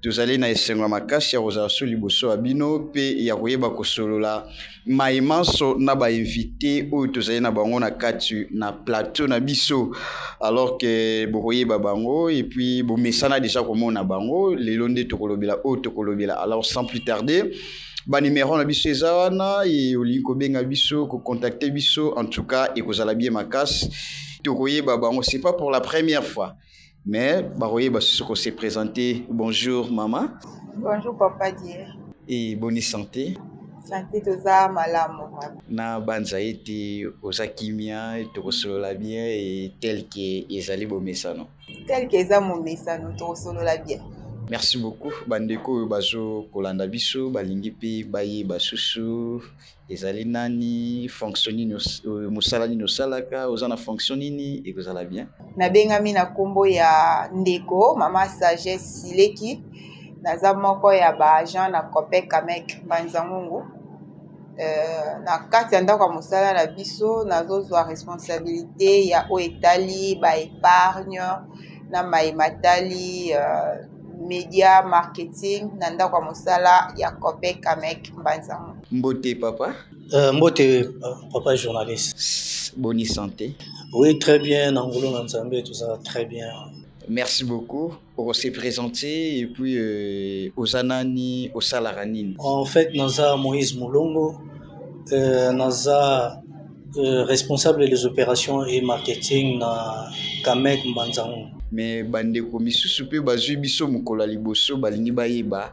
Tozali na esengo ya makasi ya kozala so liboso ya bino pe ya koyeba kosolola maye manso na ba invite oyo tozali na bango na kati na plateau na biso. Alors que bokoyeba bango et puis bomesana dejà komona bango, lelo nde tokolobela oyo tokolobela. Alors sans plus tarder, ba numero na biso eza wana ye olingi kobenga biso, ko contacter biso en tout cas ekozala bien makasi. Tokoyeba bango, c'est pas pour la première fois. Mais bakoyeba susu ko se presenter. Bonjour maman. Bonjour papa Dieu. Et bonne santé. Santé toza malamu. Na banza ete oza kimia tokosolola bien et tel que ezali bomesano. Tel que eza momesano tokosolola bien. Merci beaucoup bandeko oyo bazo kolanda biso balingi pe bayeba susu Ezali nani, fonction nini, musala nini osalaka, oza na fonction nini, ekozala bien. Nabengami na kombo ya ndeko mama Sagesse Sileki. Naza moko ya ba agent na Copec Camec Mbanzangungu. Euh, na kati ya ndako ya mosala na biso nazozwa responsabilité ya oyo etali ba épargne na mai matali euh, media marketing na ndako ya mosala ya copec camec mbanzango mbote papa euh, mbote papa journaliste boni santé oui très bien na ngulu na nzambe tozala très bien merci beaucoup on s'est présenté et puis euh, oza nani osalaka nini en fait naza moïse molongo euh, naza Euh, responsable des opérations et marketing na Kamek Mbanzango. Mais bandeko misusu mpe bazui biso mokolo ya liboso balingi bayeba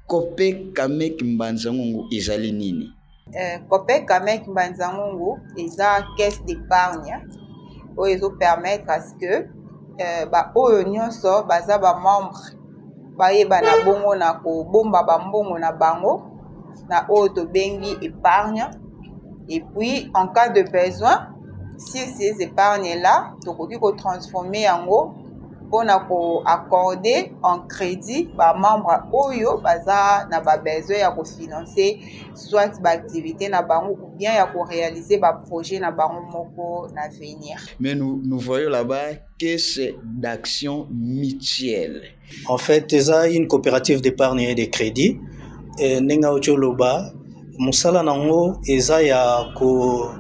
Copec Kamek Mbanzango ezali nini? Euh, Copec Kamek Mbanzango eza caisse d'épargne oyo ezo permettre à ce que euh, ba oyo nyonso baza ba membre bayebana bongo na kobomba bambongo na bango na oyo tobengi épargne et puis en cas de besoin si ces épargnes là tokoki kotransforme yango mpona koaccorde en crédit bamembre oyo baza na babesoin ya kofinance soit baactivité na bango ou bien ya korealize baprojet na bango moko na venir mais nous, nous voyons là-bas caisse d'action mutuelle. En fait, eza une coopérative d'épargne et de crédit. Et ndenge auti oloba, mosala nango eza ya ko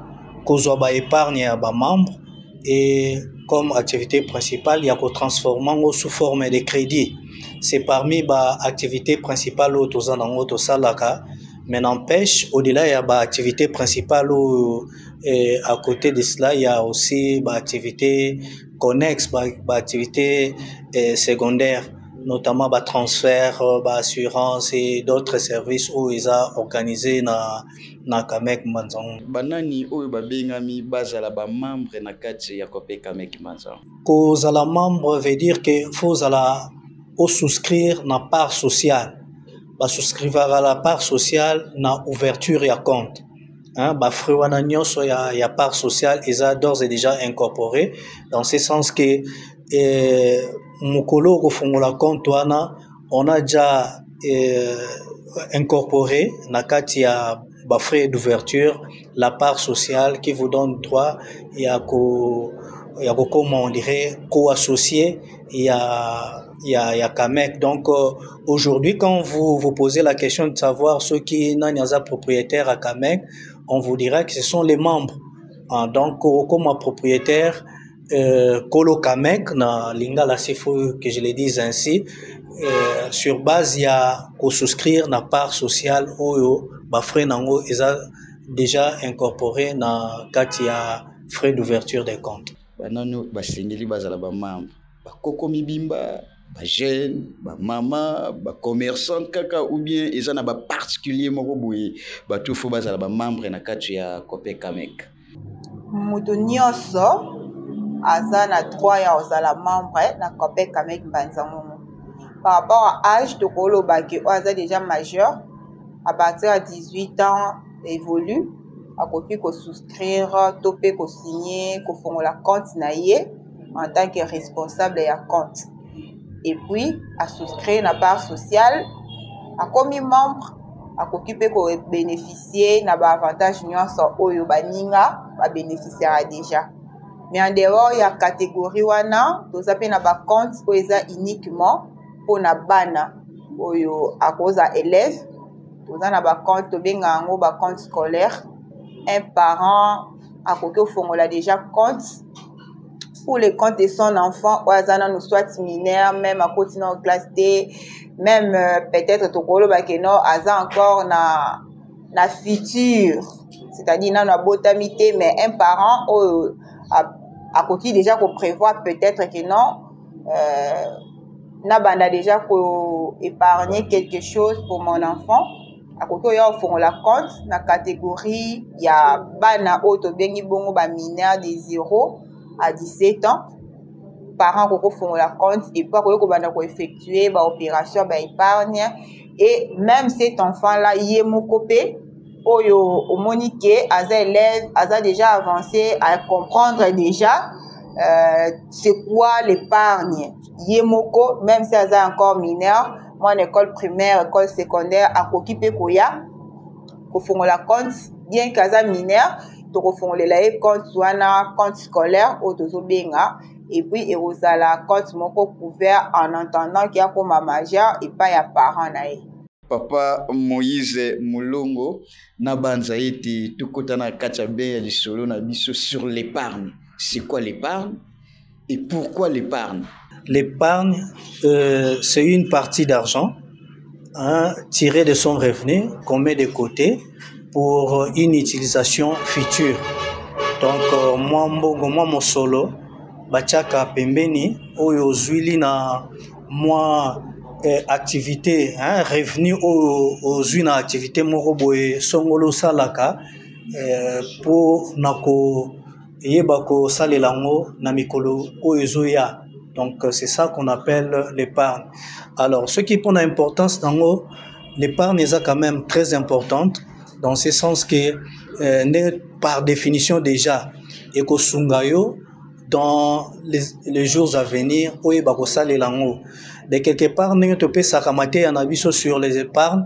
kozwa ba épargne ya ba membres et comme activité principale ya ko transformer yango sous forme de crédit. C'est parmi ba activités principales oyo toza nango tosalaka mais n'empêche au-delà ya ba activités principales oyo Et à côté de cela, il y a aussi bah, activités connexes, bah, bah, activités euh, secondaires, notamment bah, transfert, euh, bah, assurance et d'autres services où ils ont organisé na, na Kamek Manzango. banani oyo babengami bazala bamembre na kati ya cope kameki manzango kozala membre veut dire que faut ozala osouscrire na part sociale basouscrivaka la part sociale na ouverture ya compte Hein, ba fruits wana nyonso ya, ya part sociale eza d'ores et déjà incorporé dans ce sens que eh, mokolo okofungola compte wana on a déjà eh, incorporé na kati ya ba frais d'ouverture la part sociale qui vous donne droit ya ko ya kokoma on dirait co-associé ya ya, ya Kamek. Donc euh, aujourd'hui quand vous vous posez la question de savoir ceux qui nani aza propriétaire à Kamek, on vous dira que ce sont les membres. Ah, donc comme propriétaire euh, Kolo Kamek na Lingala s'il faut que je le dise ainsi euh, sur base ya ko souscrire na part sociale oyo ba frais nango eza déjà incorporé na kati ya frais d'ouverture des comptes. Banani basengeli bazala ba membres bakoko mibimba ba jeune ba mama ba commerçant kaka ou bien eza na ba particulier moko boye bato fo bazala ba membre na kati ya copec amec moto nyonso aza na droit ya kozala membre na copec amec mbanza ngongo par rapport à age tokoloba ke oyo aza déjà majeur à partir ya 18 ans évolue akoki kosouscrire to mpe kosigne kofongola compte na ye en tant que responsable ya compte et puis a souscrire na part sociale akomi membre akoki mpe kobénéficier na baavantage nyonso oyo baninga babénéficiaka déjà mais en dehors ya catégorie wana toza mpe na bacompte oyo eza uniquement mpo na bana oyo akoza élève toza na bacompte tobenga yango bacompte scolaire un parent akoki kofongola déjà compte pour le compte de son enfant oyo aza nanu soit mineur même akoti nao classe te même euh, peut-être tokoloba ke no aza encore na na future c'est-à-dire nanu abotami te mais un parent oyo akoki déjà koprévoir peut-être ke non euh, nabanda déjà koépargner quelque chose pour mon enfant akoki oya ofongola compte na catégorie ya bana oyo tobengi bongo ba mineur de 0 à 17 ans parent akoki kofongola compte epuis akoki kobanda koeffectue baopération baépargne et même cet enfant là ye moko mpe oyo omoni ke aza élève aza déjà avancé à comprendre déjà euh, c'est quoi l'épargne ye moko meme si aza encore mineur mwana école primaire école secondaire akoki mpe koya kofongola compte bien ke aza mineur tokofongolela ye compte wana compte scolaire oyo tozobenga epuis ekozala compte moko couvert en entendant ke akoma majeur epai ya parent na ye Papa Moïse Mulongo, nabanza ete tokota na kati ya bien ya lisolo na biso sur l'épargne. C'est quoi l'épargne? Et pourquoi l'épargne L'épargne, euh, c'est une partie d'argent hein, tirée de son revenu qu'on met de côté pour une utilisation future. Donc, euh, moi, mbongo, moi, mon solo, bachaka pembeni, oyo zuili na moi eh, activité, hein, revenu oyo ozui na activité moko boye songolo salaka eh, pour nako eye bakosalela yango na mikolo oyo ezoya donc c'est ça qu'on appelle l'épargne alors soki mpo na importance na yango l'épargne eza quand même très importante dans ce sens que euh, nde par définition déjà ekosunga yo dans les, les jours à venir oyo bakosalela yango de quelque part ndenge topesaka mateya na biso sur les épargnes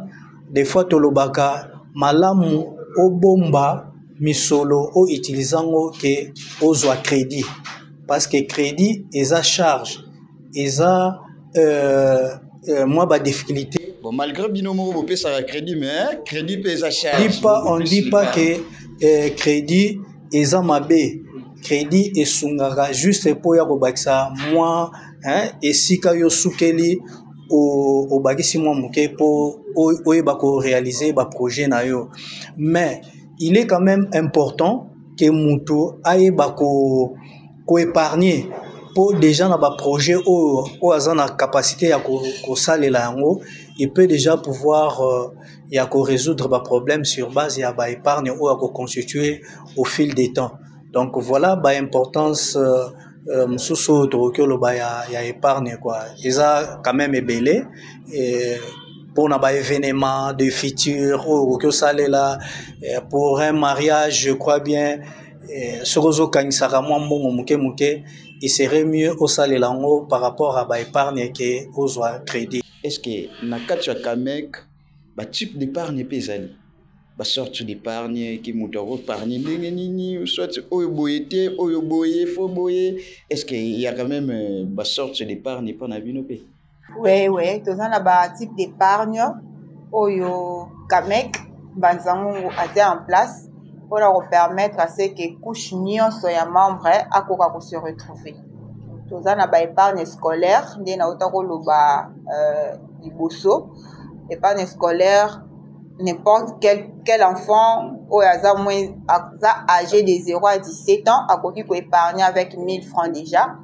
des fois tolobaka malamu obomba misolo o utilise yango ke ozwa credit parce que credit eza charge eza euh, euh, mwa ba difficulté bon malgré bino moko bopesaka credit mais credit mpe eza charge dit pas on dit pas que euh, credit eza mabe credit esungaka juste mpo ya kobakisa mwa hein, esika yo sukeli obakisi mwa moke mpo oyeba korealize baprojet na yo mais il est quand même important que mutu ayeba ko ko épargner po déjà na ba projet oyo oyo aza na capacité ya kosalela yango il peut déjà pouvoir euh, ya ko résoudre ba problème sur base ya ba épargne oyo ako constituer au fil des temps donc voilà ba importance euh, mosusu oyo tokoki oloba ya, ya epargne kua eza quand même ebele e, mpona baevenement de future oyo okoki osalela eh, pour un mariage je crois bien eh, soki ozokangisaka mwa mbongo moke moke il serait mieux osalela yango par rapport à baepargne ke ozwa crédit est ce que na kati ya camec batype d'épargne mpe ezali ba sorte d'epargne ki moto ako pargne ndenge nini soit oyo boye te oyo boye fo boye est ce que il y a quand même euh, ba sorte d'epargne epa na bino pe oui oui toza na ba type d'epargne oyo kamek banza ngungu atia en place mpo na kopermettre ce que couche nyonso ya membre akoka ko se retrouver toza na ba épargne scolaire nde nauta koloba euh, liboso épargne scolaire n'importe quel, quel enfant oyo aza moins aza âgé de 0 à 17 ans akoki ko épargner avec 1000 francs déjà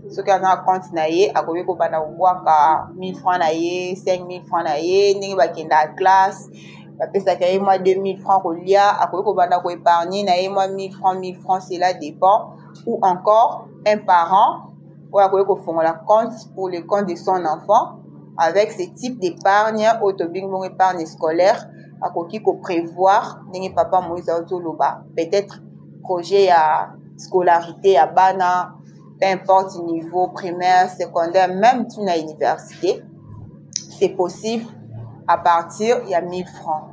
soki aza na compte na ye akoki kobanda kobwaka 1000 francs na ye 5000 francs na ye ndenge bakendaka classe bapesaka ye mwa 2000 francs kolia akoki kobanda ko épargner na ye mwa 1000 francs 1000 francs cela dépend ou encore un parent oyo akoki kofongola compte pour le compte de son enfant avec ce type d'épargne oyo tobengi bongo épargne scolaire akoki koprévoir ndenge papa moïse azoloba peut-être projet ya scolarité ya bana peu importe niveau primaire secondaire même ti na université c'est possible à partir ya 1000 francs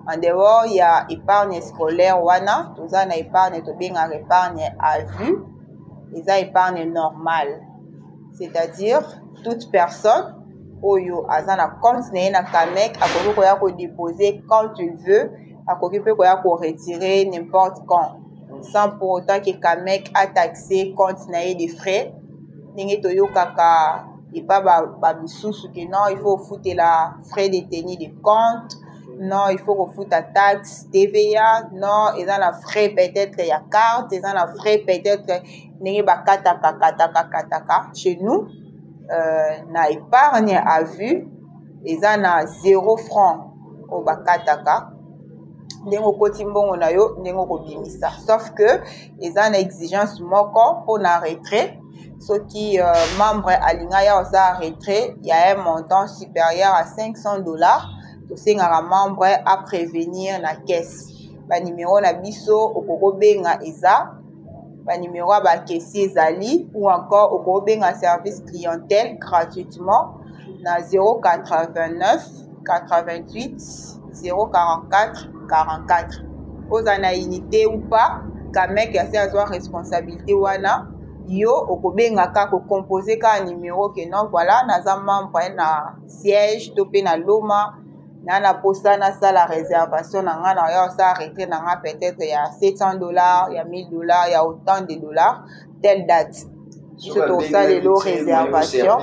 en dehors ya épargne scolaire wana toza na épargne tobengaka épargne à vue eza épargne normale c'est-à-dire toute personne oyo aza na compte na ye na camec akoki koya kodepose quand il veut akoki mpe koya koretire n'importe quand sans pour autant ke camec ataxe compte na ye de frais ndenge toyokaka epa bamosusu ba ke non il faut ofutela frais de tenue de compte non il faut kofuta taxe tva non eza na frais peut-être ya carte eza na frais peut-être ndenge bakataka kataka kataka chez nous euh, na épargne à vue eza na zéro franc oyo bakataka ndenge okoti mbongo na yo ndenge okobimisa sauf que eza na exigence moko mpo na retrait soki euh, membre alinga ya oza retrait ya un montant supérieur à 500 dollars tosengaka membre a prévenir na caisse banimero na biso okoki kobenga eza banimero ya bakesi ezali ou encore okoki kobenga service clientèle gratuitement na 089 88 044 44 oza na unité ou pas kamek ya se azwa responsabilité wana yo okobenga ka kocompose kaka numero ke non voilà naza membre na siège to mpe na loma na na mposa nasala réservation na ngai na ya osala retrait na ngai peut-être ya 700 dollars ya 1000 dollars ya autant de dollars telle date biso tokosalela o réservation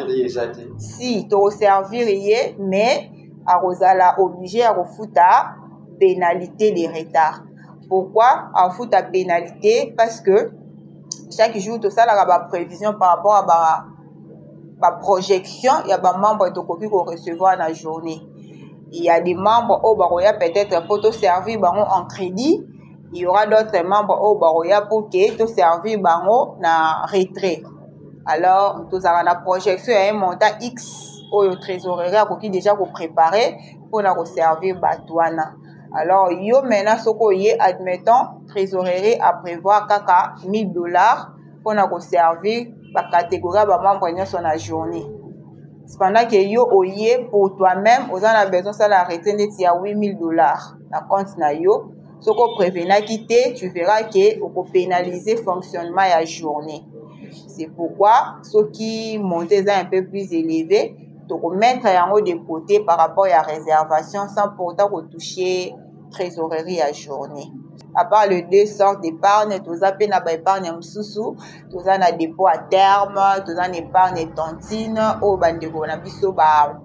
si tokoservir ye mais akozala oblige ya kofuta pénalité de retard pourquoi afuta pénalité parce que chaque jour tosalaka baprévision par rapport ya ba baprojection ya bamembre tokoki korecevoir na journée ya des membres oyo bakoya peut-être mpo toservir bango en crédit il y aura d'autres membres oyo bakoya pour ke toservir bango na retrait alors tozalaka na projection ya un montant x oyo trésorerie akoki déjà koprépare mpona koservir bato wana alors yo maintenant soki oye admettons trésorerie aprévoir kaka 1000 dollars mpona koservir bacatégorie ya bamembre nyonso na journée cependant ke yo oye pour toi-même oza na besoin osala arrete ndeti ya 8000 dollars na compte na yo soki oprevenaki te tu verras ke okopenalize fonctionnement ya journée c'est pourquoi soki monte eza un peu plus élevé tokomettre yango de côté par rapport ya réservation sans pourtant kotoucher trésorerie ya journée à part les deux sortes d'épargne toza mpe na baépargne ya mosusu toza na dépôt à terme toza na épargne tontine oyo bandeko na biso ba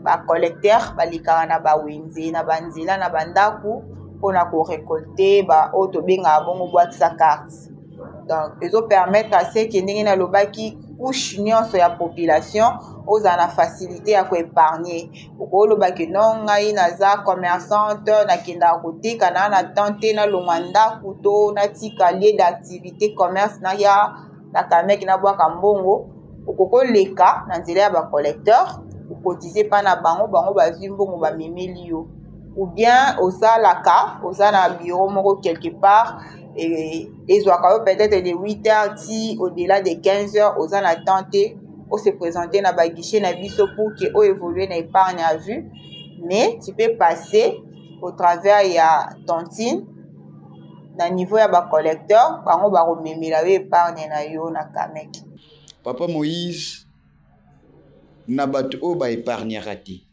bacollecteur balekaka na bawenze na banzela na bandako mpona korecolte baoyo tobengaka bongo boite sa carte donc ezopermettre aseke ndenge nalobaki couche nyonso ya population ozala na facilité ya koépargne okolobaki no ngai naza commerçante nakendaka koteka naa na temps te nalongwa ndako to natika lieu d'activité commerce naya na kamek nabwaka mbongo okoki oleka na nzela ya bacollecteur okotise mpa na bango bango bazwi mbongo bamemeli yo ou bien osalaka oza na bureau moko quelque part ezwaka yo peut-être de 8 heures ti au-delà de 15 heures oza na temps te ose présente na baguichet na biso pour ke o évolue na épargne à vue mais tu peux passer au travers ya tontine na niveau ya ba collecteur bango bakomemela yo epargne na yo na kamek papa moïse na bato oyo ba epargnaka te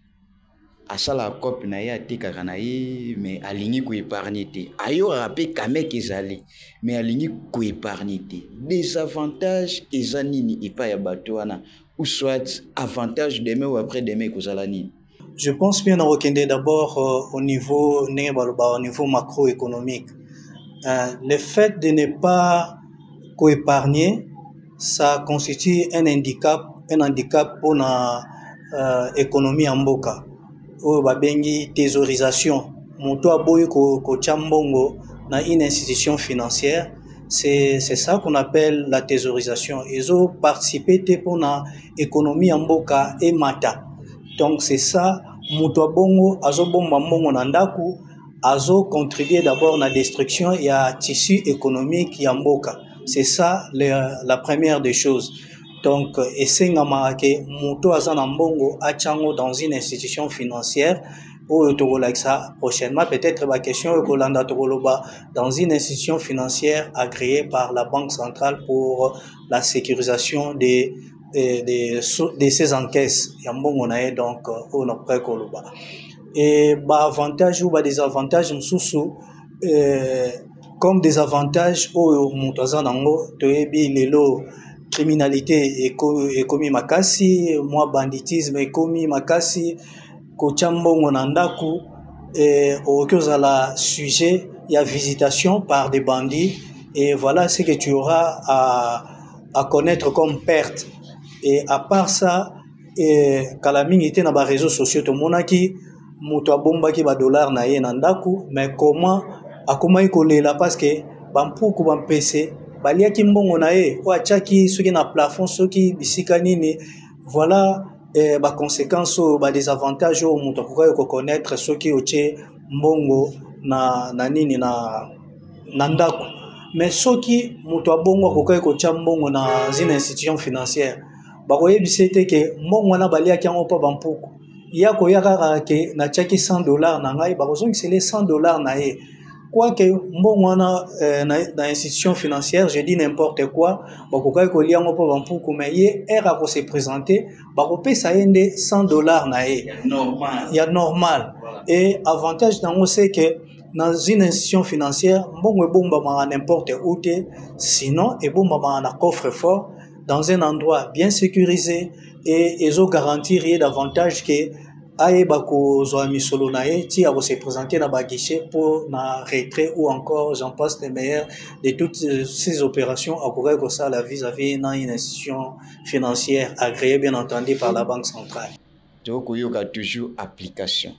asalaka cope na ye atekaka na ye me alingi koepargne te ayokaka mpe kamek ezali me alingi koepargne te desavantage eza nini epai ya bato wana ou soit avantage demain ou après demain ekozala nini Je pense bien nakokende d'abord euh, au niveau ndenge baloba au niveau macroéconomique. Euh, le fait de ne pas coépargner, ça constitue un handicap, un handicap pour na euh, économie ya mboka oyo babengi thésaurisation. Moto aboyi kotya ko mbongo na une institution financière, c'est ça qu'on appelle la thésaurisation. Ezo participer te mpo na economie ya mboka emata donc c'est ça moto ya bongo azobomba mbongo na ndako azocontribue d'abord na destruction ya tissu économique ya mboka c'est ça la, la première des choses donc esengamaka ke moto aza na mbongo atyango dans une institution financière oyo tokolakisa prochainement peut-être baquestion oyo kolanda tokoloba dans une institution financière agréée par la banque centrale pour la sécurisation des de, de, de ces encaisses ya mbongo na ye donc euh, oyo nakokai koloba e baavantage ou badesavantage mosusu euh, comme des avantages oyo moto aza nango toyebi lelo criminalité ekomi makasi mwa banditisme ekomi makasi Kotya mbongo na ndako okoki kozala sujet ya visitation par des bandits et voilà ce que tu auras à, à connaître comme perte et à part ça eh, kala mingi te na ba réseaux sociaux tomonaki moto abombaki ba dollars na ye na ndako mais comment akomaki kolela parce que bampuku bampese baliaki mbongo na ye oyo atyaki soki na plafond soki bisika nini voilà eh, ba conséquences oyo ba désavantages oyo moto akokaki ko connaître soki otie mbongo na na nini na na ndako mais soki moto abongo akokaki kotia mbongo na zina institution financière bakoyebisa ye te ke mbongo wana baliaki yango mpo bampuku ye akoya kaka ke natiaki 100 dollar na ngai bakozongisela ye 100 dollar na ye Quoique mbongo wana eh, na, na institution financière, je dis n'importe quoi, bakokaki kolia yango mpo bampuku, mais ye ere ako se présenter, bakopesa ye nde 100 dollars na ye normal ya normal Voilà. et avantage nango c'est que dans une institution financière mbongo ebombamaka n'importe où te sinon ebombamaka na coffre fort dans un endroit bien sécurisé et ezo garantir ye davantage que ayeba kozwa misolo na ye ti ako se présenter na ba guichet mpo na retrait ou encore j'en passe les meilleurs de toutes ces opérations akokaki kosala vis-à-vis na une institution financière agréée bien entendu par la banque centrale tokoyoka toujours application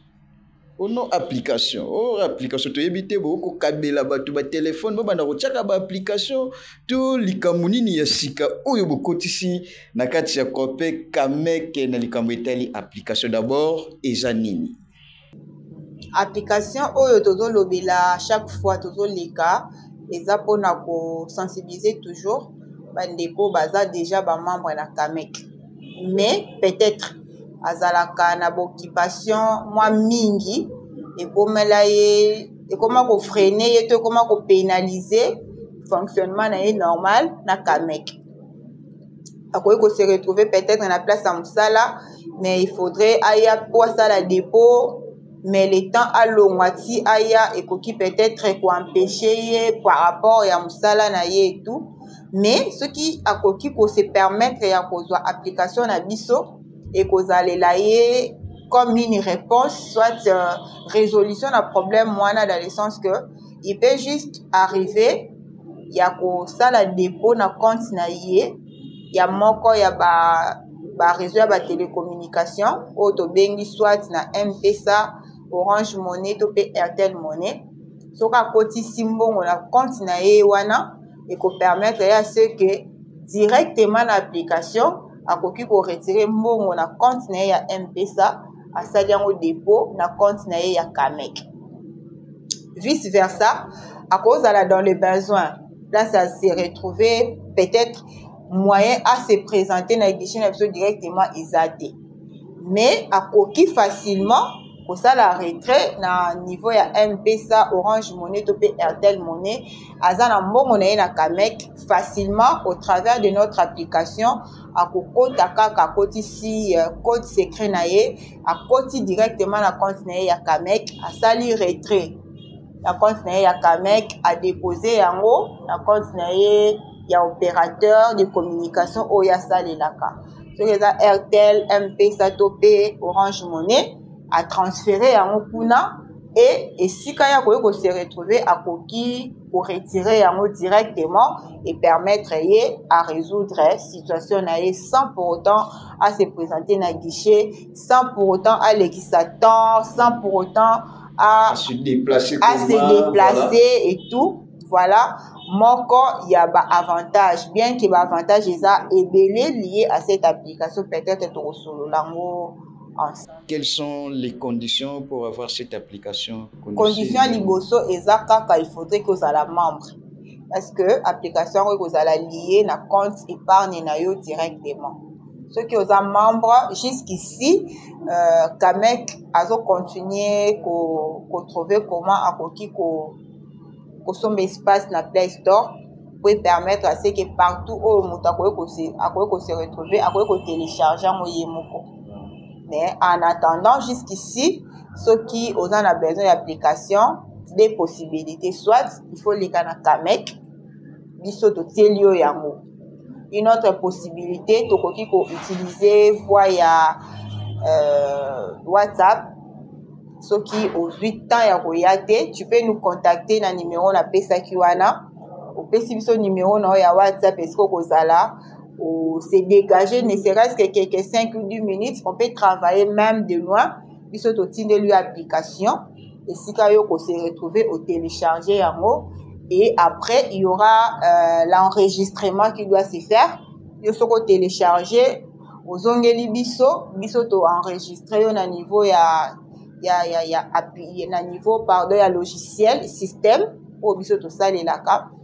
o oh non application o oh, application toyebi te bokokabela bato batelefone bobanda kotyaka baapplication to likambo nini ya sika oyo bokotisi Na kati ya Copec Camec na likambo etali application d'abord eza nini? Application oyo tozo lobela chaque fois tozo leka eza pona ko sensibiliser toujours ba ndeko baza deja ba membre na Camec mais peut-être azalaka na ba occupation mwa mingi ekomela ye ekoma ko freiner ye to ekoma ko penaliser fonctionnement na ye normal na Camec. akoki ko se retrouver peut-être na place ya mosala mais il faudrait aya po asala dépôt mais le temps alongwa ti aya ekoki peut-être ko empecher ye par rapport ya mosala na ye et tout mais soki akoki ko se permettre ya kozwa application na biso ekozalela ye comme une réponse soit euh, résolution na problème wana dans le sens que il peut juste arriver ya kosala depot na compte na ye ya moko ya ba ba réseau ya ba télécommunication oyo tobengi soit na mpesa orange monnaie to mpe airtel monnaie soki akotisi mbongo na compte na ye wana ekopermettre ya ce que directement na application akoki koretire mbongo na compte na ye ya mpesa asali yango depot na compte na ye ya camec vice versa akozala dans le besoin place à se retrouver peut-être moyen à se présenter na édition na biso directement eza te mais akoki facilement kosala retrait na niveau ya mpesa orange monnaie to mpe airtel monnaie aza na mbongo na ye na camec facilement au travers de notre application akokota kaka akotisi euh, code secret na ye akoti directement na compte na ye ya kamek asali retrait na compte na ye ya kamek adepose yango na compte na ye ya opérateur de communication oyo asalelaka soki eza airtel mpesa to pe orange monnaie atransfere yango kuna e esika ya koki kose retrouve akoki ko retirer yango directement et permettre ye à résoudre situation na ye sans pour autant à se présenter na guichet sans pour autant à sa temps sans pour autant à, à se déplacer à se déplacer voilà. et tout voilà moko ya ba avantage bien que ba avantage eza ebele lié à cette application peut-être tokosolola yango ensemble quelles sont les conditions pour avoir cette application condition ya liboso eza kaka il faudrait que ozala membre parce que application yango ekozala lie na compte épargne na yo directement soki oza membre jusqu'ici euh, kamek azocontinue kotrouve ko comment akoki kosomba ko espace na play store po epermettre ase ke partout oyo moto akoki kose retrouve akoki kotelecharge yango ye moko mais en attendant jusqu'ici soki oza na besoin ya application de possibilité soit il faut leka na camec biso totieli yo yango une autre possibilité tokoki koutilize voie ya euh, whatsapp soki ozwi temps ya koya te tu peux nous contacter na numero napesaki wana opesi biso numero na yo ya whatsapp esiko kozala au, se dégager, ne serait-ce que quelques 5 ou 10 minutes, on peut travailler même de loin, biso totindeli yo application esika yo kose retrouver otélécharge yango et après il y aura euh, l'enregistrement qui doit se faire yo soki otélécharge ozongeli biso biso toenregistre yo na niveau ya ya ya ya appui na niveau pardon ya logiciel système oyo biso tosalelaka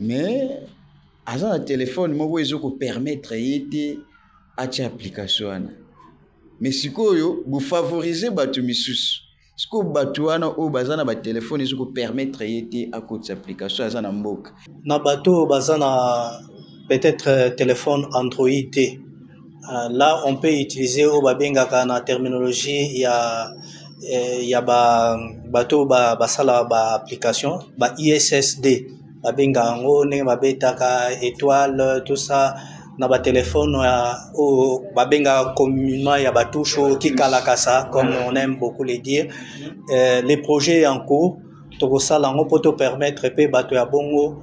mais aza na telefone moko ezo ko permettre ye te atya application wana mais sikoyo bo favoriser bato misusu sikoyo bato wana oyo baza na batelefone ezo ko permettre ye te akotisa application aza na mboka na bato oyo baza na peut-etre telefone android te. Euh, là, on peut utiliser au babenga la terminologie, il y a, euh, il y a ba, bateau, ba, ba sala, ba application, ba ISSD, ba benga ango, ne ba betaka, étoile, tout ça, na ba téléphone, euh, au, ba benga communément, il y a ba touche, qui kalakasa, comme on aime beaucoup le dire. Euh, les projets en cours, tokosala yango mpo to permettre mpe bato ya bongo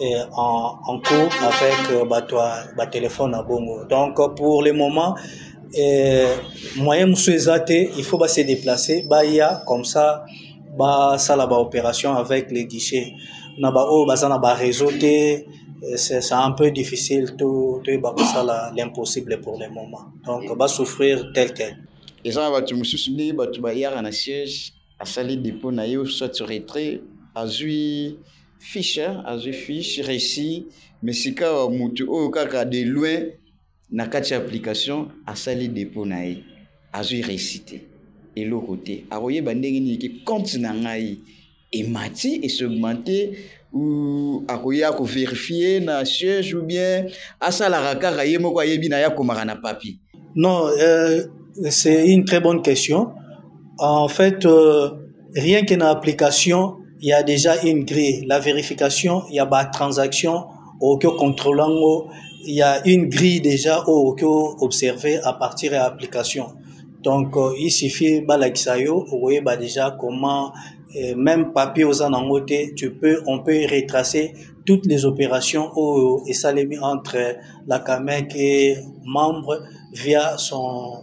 et en, en cours avec euh, bato ba téléphone na bongo donc pour le moment euh, moyen mosusu eza te il faut base déplacer baya comme ça basala baopération avec les guichets na baoyo baza na bareseau te euh, c'est un peu difficile toyeba kosala l'impossible pour le moment donc basouffrir tel tel eza na bato mosusu nde bato bayaka na siège asali dépôt na ye soit retrait azwi Fiche azwi fiche resi mais sikawa mutu oyo kaka de loin na kati ya application asali depot na ye azwi resi te eloko te akoyeba ndenge nini ke compte na ngai emati et se augmenter ou akoya ko verifier na siège ou bien asalaka kaka ye moko ayebi na ye akomaka na papier? Non, euh, c'est une très bonne question. En fait, euh, rien que na application il y a déjà une grille la vérification il y a ba transaction okoki ocontrole yango il y a une grille déjà oyo okoki observe à partir ya application donc euh, il suffit balakisa yo okoyeba déjà comment euh, même papier oza nango te tu peux on peut retracer toutes les opérations oyo esalemi entre la camec et membre via son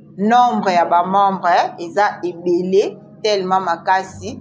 nombre ya ba membre eza ebele tellement makasi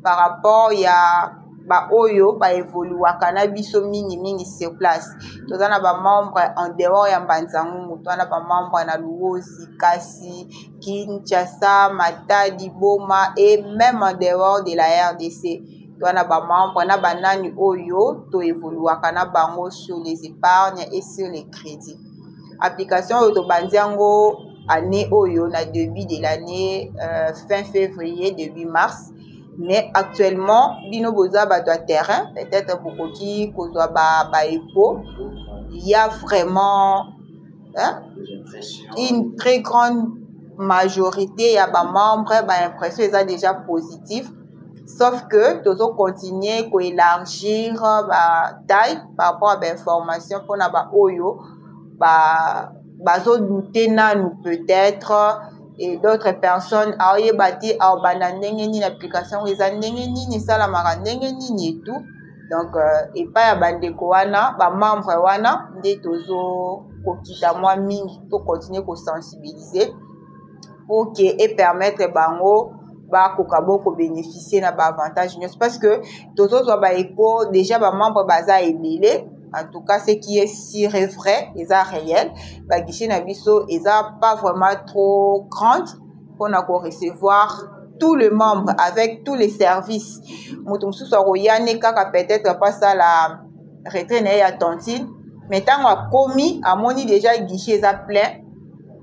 par rapport ya baoyo baevoluaka na biso mingimingi sur place toza na bamembre en dehors ya mbanzangungu toza na bamembre na luozi kasi kinshasa matadi boma et même en dehors de la rdc toza na bamembre na banani oyo toevoluaka na bango sur les épargnes et sur les crédits application oyo tobandi yango année oyo na début de l'année euh, fin février début mars mais actuellement bino boza bato ya terrain peut-être bokoki kozwa baepo ba ya vraiment hein? une très grande majorité ya bamembre baimpression eza déjà positive sauf que tozo continuer ko élargir ba taille par rapport à ba information mpona ba oyo ba bazo douter nanu peut-être et d'autres personnes aoyeba te aobanda ndenge nini application yango eza ndenge nini esalamaka ndenge nini et tout donc euh, epai ya bandeko wana bamembre wana nde tozo kokita mwa mingi to continuer kosensibiliser pour que e permettre bango bakoka bo kobénéficie na baavantage nyonso parce que tozozwa baeko déjà bamembre baza ebele en tout cas ce qui est sur et vrai eza réel baguichet na biso eza pas vraiment trop grande mpona korecevoir tout le membre avec tous les services moto mosusu akoya ne kaka peut-être apasala retrait na ye ya tantine mais ntango akomi amoni déjà guichet eza plein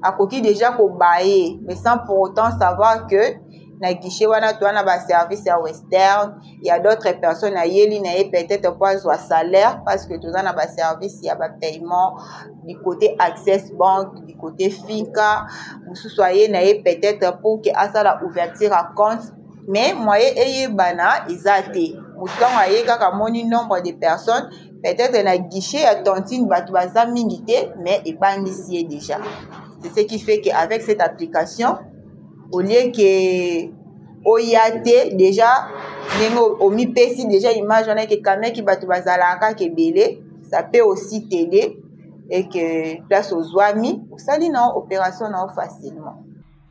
akoki deja kobaye mais sans pour autant savoir que na guichet wana toa na baservice ya western ya d'autres personnes ayeli na ye peut-être mpo azwa salaire parce que toza na baservice ya bapaiement du côté access bank du côté finka mosusu aye na ye peut-être pour ke asala ouverture ya compte mais moye eyebana eza te motango aye kaka amoni nombre de personnes peut-être na guichet ya tantine bato baza mingi te mais ebangisi ye déjà c'est ce qui fait que avec cette application au lieu que oya te déjà ndenge omipesi déjà image wana eke kameki bato bazalaka kaka ebele ça peut aussi t'aider et que place ozwami osali na yo opération na yo facilement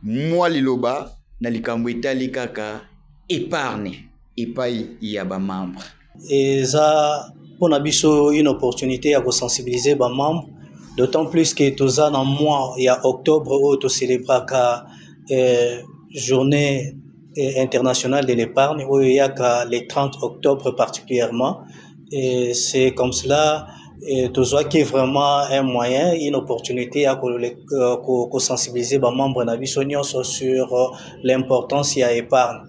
mwa liloba na likambo etali kaka epargne epai ya bamembre eza mpo na biso une opportunité ya kosensibiliser bamembre d'autant plus que toza na mois ya octobre oyo tocelebraka eh, journée eh, internationale de l'épargne oyo eyaka le 30 octobre particulièrement et c'est comme cela eh, tozwaki vraiment un moyen une opportunité ya kosensibiliser euh, bamembre na biso nyonso sur euh, l'importance ya épargne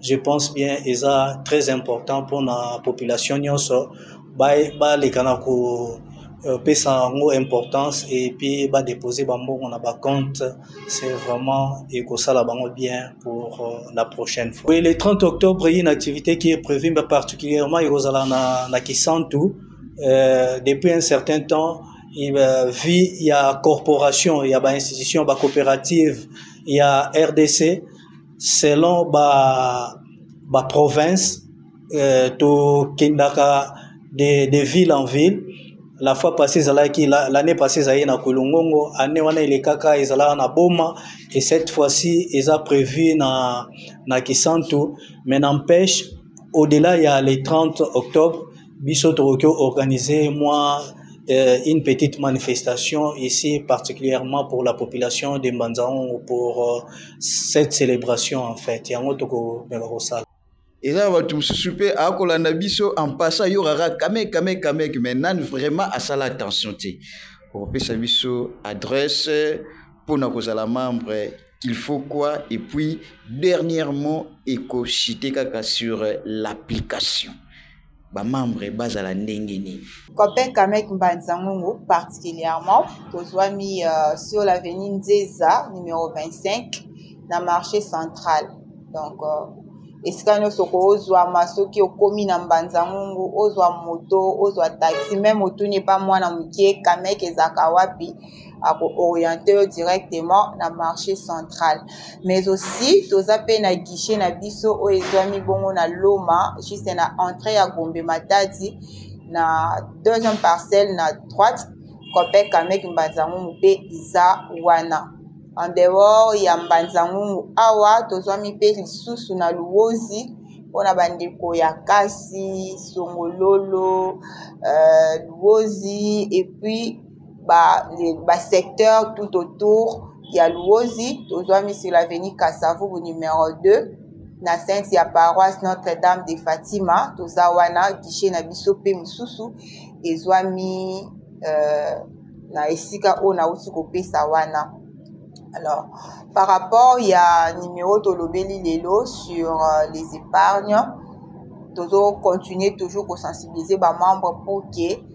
je pense bien eza très important mpo na population nyonso baleka na kopesa euh, yango importance epuis badepose bambongo na bacompte c'est vraiment ekosala bango bien pour euh, la prochaine fois oui, le 30 octobre une activité qui est prévue mais particulièrement ekozala na, na kisantu euh, depuis un certain temps euh, vie ya corporation ya bainstitution bacoopérative ya rdc selon ba ba province euh, tokendaka de, de ville en ville la fois passée ezalaki l'année passée ezalaki na kulungongo année wana elekaka ezalaka na boma et cette fois-ci eza prévu na, na kisantu mais n'empêche au-delà ya le 30 octobre biso tokoki organiser moi euh, une petite manifestation ici particulièrement pour la population de Mbanzaongo pour euh, cette célébration en fait yango tokomeka kosala eza na bato mosusu mpe akolanda biso en passant yoraka kamek kamek kamek mais nani vraiment asala attention te okopesa biso adresse mpo na kozala membre il faut quoi et puis dernièrement eko chite kaka sur l'application ba membre bazala ndenge nini Copain Kamek Mbanza Ngongo particulièrement tozwami euh, sur l'avenue Nzeza numéro 25 na marché central donc euh, esika nyonso kozwama soki okomi na mbanza ngungu ozwa moto ozwa taxi meme otuni epa mwana moke kameke ezalaka wapi ako orienter yo directement na marché central mais aussi toza pe na guichet na biso oyo ezwami bongo na loma juste na entrée ya gombe matadi na deuxième parcelle na droite copec amek mbanzangungu pe eza wana en dehors ya mbanzangungu awa tozwami pe lisusu na luozi mpona bandeko ya kasi songololo euh, luozi epuis ba, ba secteur tout autour ya luozi tozwami sur l'avenue kasavubu numero 2 na sainte ya paroisse notre dame de fatima toza wana guichet na biso mpe mosusu ezwami euh, na esika oyo nauti kopesa wana alors par rapport ya numero tolobeli lelo sur euh, les épargnes tozo continuer toujours kosensibiliser bamembre pour que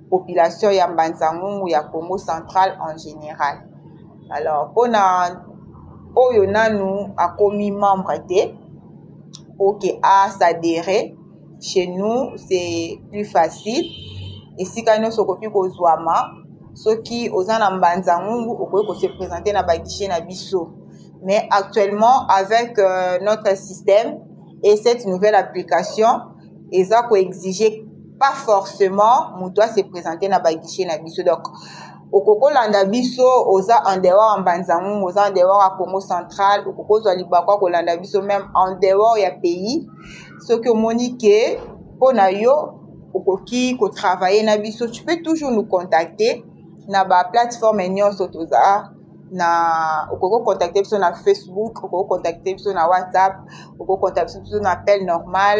population ya mbanzangungu ya congo central en général alors mpona oyo nanu akomi membre te oke asadere chez nous c'est plus facile esika nyonso okoki kozwama soki oza na mbanzangungu okoki kose présente na baguichet na biso mais actuellement avec euh, notre système et cette nouvelle application eza ko exige pas forcément moto ase présente na baguichet na biso donc okoki kolanda biso oza en dehors ya mbanzangungu oza en dehors ya congo central okoki kozwa libaku ya kolanda biso meme en dehors ya pays soki omoni ke mpo na yo okoki kotravaille na biso tu peux toujours nous contacter na baplateforme nyonso toza na okoki kocontacte biso na facebook okoki kocontacte biso na whatsapp okoki kocontacte biso na appel normal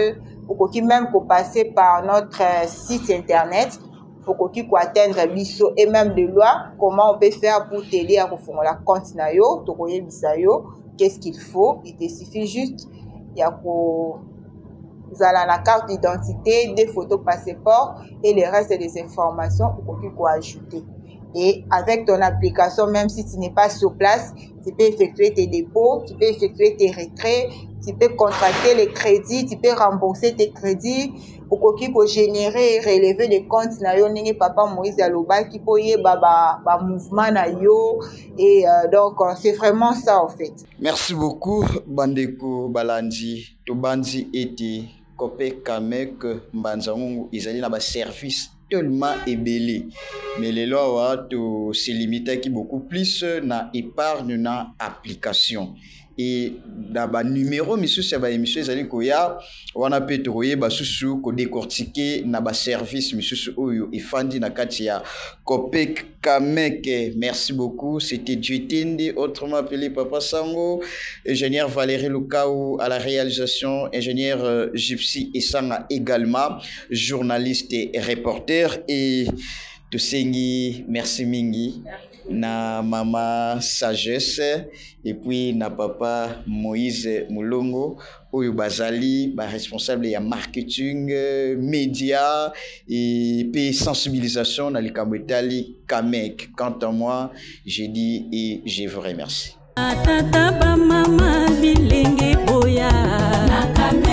okoki même kopasser par notre euh, site internet okoki koatteindre biso et même de loi comment on peut faire pour t'aider ya kofongola compte na yo tokoyebisa yo qu'est-ce qu'il faut il te suffit juste ya ko zala na carte d'identité des photos passeport et le reste des informations okoki koajouter Et avec ton application, même si tu n'es pas sur place, tu peux effectuer tes dépôts, tu peux effectuer tes retraits, tu peux contracter les crédits, tu peux rembourser tes crédits. okoki kogénere releve de compte na yo ndenge papa moïse alobaki mpo oyeba bamouvement ba na yo et euh, donc euh, c'est vraiment ça en fait merci beaucoup bandeko balandi tobanzi ete copec amec mbanza ngungu ezali na baservice tellement ebele mais lelo awa to se limitaki beaucoup plus na epargne na application et na ba numero misusu ya ba emission ezali koya wana pe tokoyeba susu ko decortiquer na ba service misusu oyo efandi na kati ya copec Kameke merci beaucoup c'etait Dieu Tindi autrement appelé Papa Sango, Ingenieur Valerie Lukawu à la realisation, Ingenieur Gypsy Esanga egalement, journaliste et reporter et tosengi merci mingi na Mama Sagesse et puis na Papa Moïse Mulongo oyo bazali ba responsable ya marketing, media et pe sensibilisation na likambo etali Kamek. Quant à moi, je dis et je vous remercie. Ba tata ba mama bilenge boya.